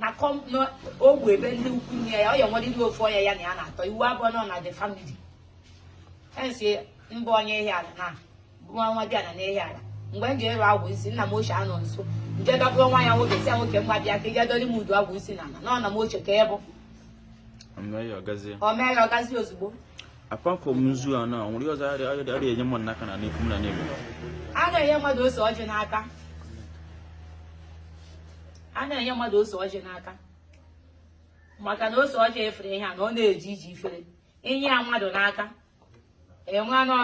na ogbu ebe ndị ikwu nne ya ọ ya nweriri ofu onye ya na ya na-atọ iwu abụọ nọ na the family hence ị bụ onye Ihiala na nwa nwa dị ala n'Ihiala mgbe m ji ịrụ agwụ isi nna m ochie anọ nso nje dọbụrụ nwa ya nwoke si ya nwoke m bịa ka ị ga-edori m udu agwụ isi na ala na nna m ochie ka ịbụ o meela ọgazi ozugbo apart from nzu a na ihe ọzọ adịghị enye mmadụ n'aka na n'ekwu m na n'ebe a na-enye mmadụ ose ọjị n'aka a na-enye mmadụ ose ọjị n'aka maka na ose ọjị efere ihe a na ọ na-eji iji efere inye ya mmadụ n'aka ị ma na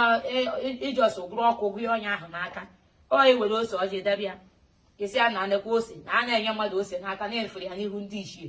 ị just gụrụ ọkụ gụọ onye ahụ n'aka ọ ewere ose ọjị debe ya ị sị ya nekwa ose na a na-enye mmadụ ose n'aka na-efere ya n'ihu ndị ichie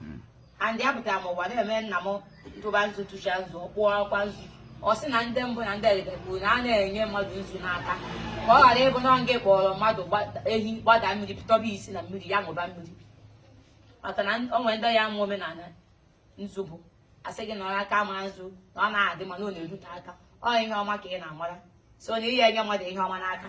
hmm. and ihe a pụtara m ụwa na-eme nna m tụba nzu tụcha nzu kpụọ akwa nzu ọ sị na ndị mbụ na ndị egede kwuru na a na-enye mmadụ nzu n'aka ka ọ ghara ịbụ na nga kpọrọ mmadụ eh gbada mmiri pụtọba isi na mmiri ya ṅụba mmiri maka na o nwere ndị ya bụ omenala nzu bụ a sị gị na ọ aka ma nzu na ọ na-adị mma na ọ na-erute aka ọ ihe ọma ka ị na-amara so na ị ye enye mmadụ ihe ọma n'aka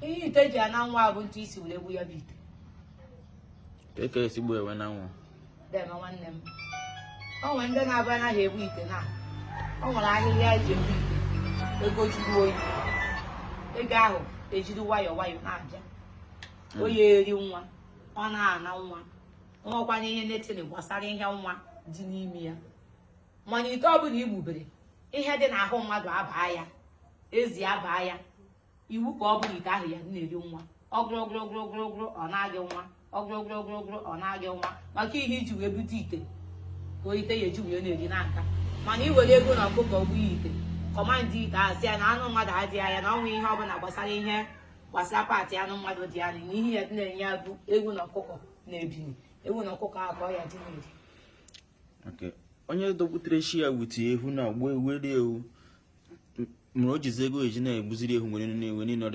ihe ite ji ana nwa bụ etu i si were egbu ya bụ ite ka e si gbuo ya wee na nwa deme nwanne m o nwere ndị na-abụ anaghị egbu ite na o nwere ahịhịa eji egbu ite ego juru oyi ego ahụ ejiri nwayọ nwayọ na-abịa oyi eri nwa ọ na-ana nwa nwakwanye anything gbasara ihe nwa dị n'ime ya mana ite ọbụla i gbubere ihe dị n'ahụ mmadụ abaa ya ezi abaa ya iwu ka ọ bụrụ ite ahụ ya na-eri nwa ọgụrụgụrụgụrụgụrụ ọ naa gị nwa ọgụrụgụrụgụrụgụrụ ọ naa gị nwa maka ihe iji wee bute ite ka ite ya eji wee na-eri n'aka mana i were ewu na ọkụkọ gbuo ite command ite ahụ si ya na anụ mmadụ adịghị ya na ọnwa ihe ọbụla gbasara ihe gbasara part anụ mmadụ dị ya na ihe ya dị na-enye ya bụ ewu na ọkụkọ na-ebini ewu na ọkụkọ ahụ ka ọ ya dị na-eri onye dọpụtara chi ya wute ewu na agba ewu eri ewu mere o jizi ego eji na-egbuziri ewu nwere na-enwe niile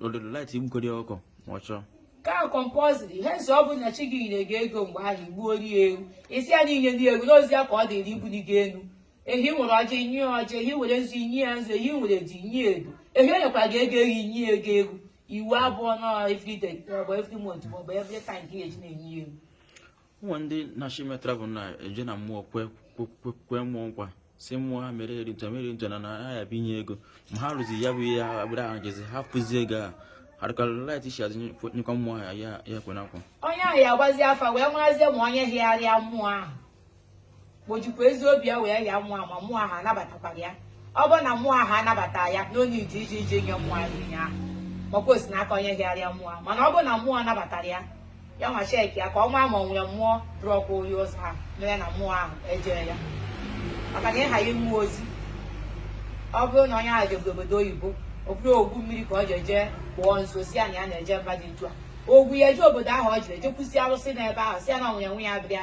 ordinarily i gbukọrị ọkụkọ ọ chọọ ka compulsory hence ọ bụ na chi gị nyere gị ego mgbe ahụ i gbuoro ya ewu isi ya niile dị egwu n'ozi ya ka ọ dịrị ibuli gị elu ehi nwere ọjị nye ya ọjị ehi were nzu nye ya nzu ehi nwere ji nye edo ehi onyekwara gị ego ehi nye ya ewu ewu abụọ na every day maọbụ every month maọbụ every time ka e ji na-enye ya ewu o nwere ndị na-achọ ime travel na-eje na mmụọ kwe mmụọ nkwa si mmụọ ha mere e reach America na na ya bịa nye ego ma ha ruzi ya bụ abroad ahụ jezi ha fụzi ego a ha adịkarị lachizi azụ nyekwa mmụọ ihe ha kwe na nkwa onye ahụ ya gbazi afa wee marazie ma onye hịgharịa mmụọ ahụ ma o jikwa ezi obi ya wee hịa mmụọ ma mmụọ ahụ anabatakwara ya ọ bụrụ na mmụọ ahụ anabata ya n'onye iji iji iji nye mmụọ ahụ ihe ahụ makwa o si n'aka onye hịgharịa mmụọ mana ọ bụrụ na mmụọ nabatara ya ya nwa cheki ya ka ọ maa ma ọ nwere mmụọ dụrụ ọkwa onye ụzọ ahụ mere na mmụọ ahụ ejee ya maka na ịha ya mmụọ ozi ọ bụrụ na onye ahụ jebe obodo oyibo ọ bụrụ ogwu mmiri ka ọ ji eje kpụọ nsọ sị ya na ya na-eje mba dị ntu a ogwu ya eje obodo ahụ ọ jiri ejekwusi arụsị n'ebe ahụ sị ya na onye nwe ya bịa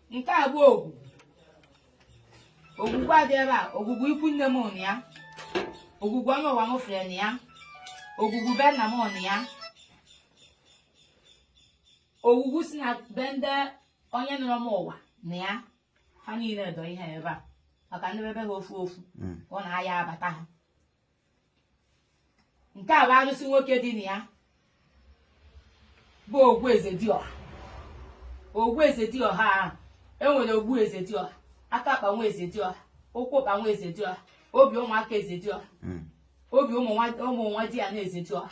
nke a bụ ogwugwu ogwugwu dọ ebe a ogwugwu ikwu nne m nọ ya ogwugwu onye ụwa m fere nọ ya ogwugwu be nna m nọ ya ogwugwu si na be ndị onye nọrọ m ụwa nọ ya ha niile dọ ihe ebe a maka ndị bebe ha ofu ofu ọ na-aya abata ha nke a bụ arụsị nwoke dị na ya bụ ogwu eze dị ọha ogwu eze dị ọha ahụ e nwere ogbu eze dị ọha aka akpa nwa eze dị ọha ụkwụ ụkpa nwa eze dị ọha obi ụmụaka eze dị ọha hmm. obi ụmụ nwadiana eze dị ọha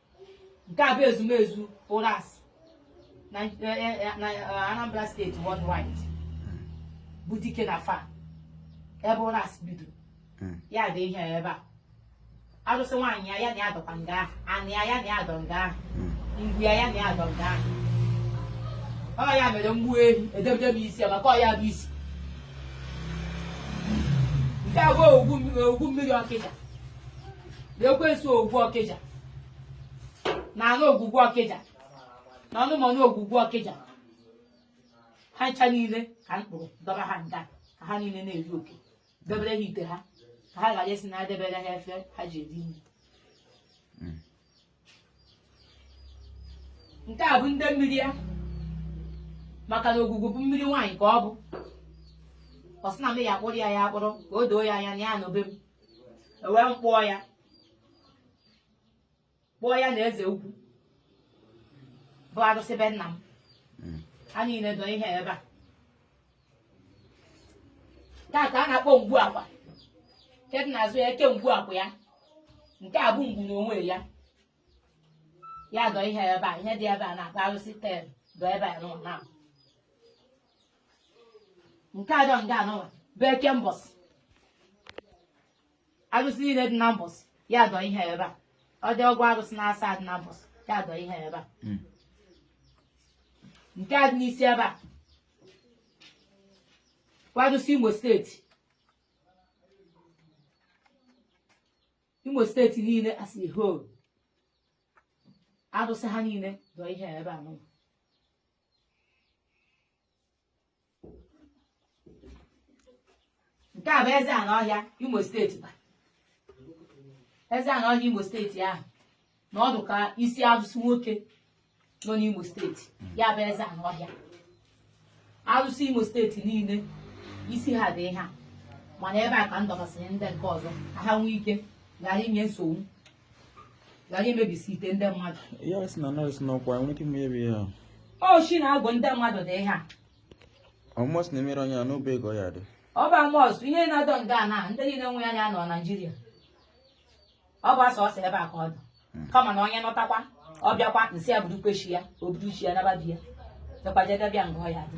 nke a bụ ezumezu ụrasị na eh, eh, eh, na, eh, Anambra steeti worldwide bụ dikenafai ebe ụrasị bido Mm. ya dị ihe ebe a arụsị nwaanyị ya ya na ya dọkwa nga ahụ anị ya ya na ya dọ nga ahụ Mm. ngwu ya ya na ya dọ nga ahụ ọ ya mere m gbuo ehi edebere m isi ya maka ọ ya bụ isi nke a bụ ogwugwu mmiri ọkịja na ekwensu ogwu ọkịja na anụ ogwugwu ọkịja na ọnụmọnụ ogwugwu ọkịja ha ncha niile ka m kpụrụ dọba ha nga ka ha niile na-eri oke debere ha ite ha ka ha ga-eji esi nri debere ha efe ha ji eri nri nke a bụ ndị mmiri ya maka na ogwugwu bụ mmiri nwaanyị ka ọ bụ ọ sị na m ya akpụrụ ya akpụrụ ka o doo ya anya na ya nọ be m ewee m kpụọ ya kpụọ ya na eze ukwu bụ arụsị be nna m ha niile dọ ihe ebe a nke a ka a na-akpọ ngwu akwa nke dị n'azụ ya eke ngwu akwa ya nke a bụ ngwu n'onwe ya ya dọ ihe ebe a ihe dị ebe a na-akpọ arụsị tel dọ ebe a nụwa na nke a dọ nga anụwa bụ eke mbọsị arụsị niile dị na mbọsị ya dọ ihe ebe a ọ dị ọgụ arụsị na asaa dị na mbọsị ya dọ ihe ebe a nke a dị n'isi ebe a arụsị Imo steeti Imo steeti niile as a whole arụsị ha niile dọ ihe a ebe a nọ nke a bụ eze n'ọhịa imo steeti kwa eze n'ọhịa imo steeti ahụ na ọ dụ ka isi arụsị nwoke nọ n'imo steeti ya bụ eze n'ọhịa arụsị imo steeti niile isi ha dị ha mana ebe a ka m dọbasịrị ndị nke ọzọ ka ha nwee ike ghara inye nsogbu ghara imebisi ite ndị mmadụ ya sị na nọọsụ n'ọkwa nwere ike imebi ya oshi na-agụ ndị mmadụ dị ha Almost na-emere onye a n'obe ego ya dị. Ọ bụ Almost ihe na-adọ nga na ndị niile nwe anya nọ Naijiria. Ọ bụ sọsọ ebe a ka ọ dọ. Hmm. Kama na onye nụtakwa ọ bịakwa m sị ya burukwa chi ya o buru chi ya naba be ya. Dọkwa je debe ya nga ọ ya-adị.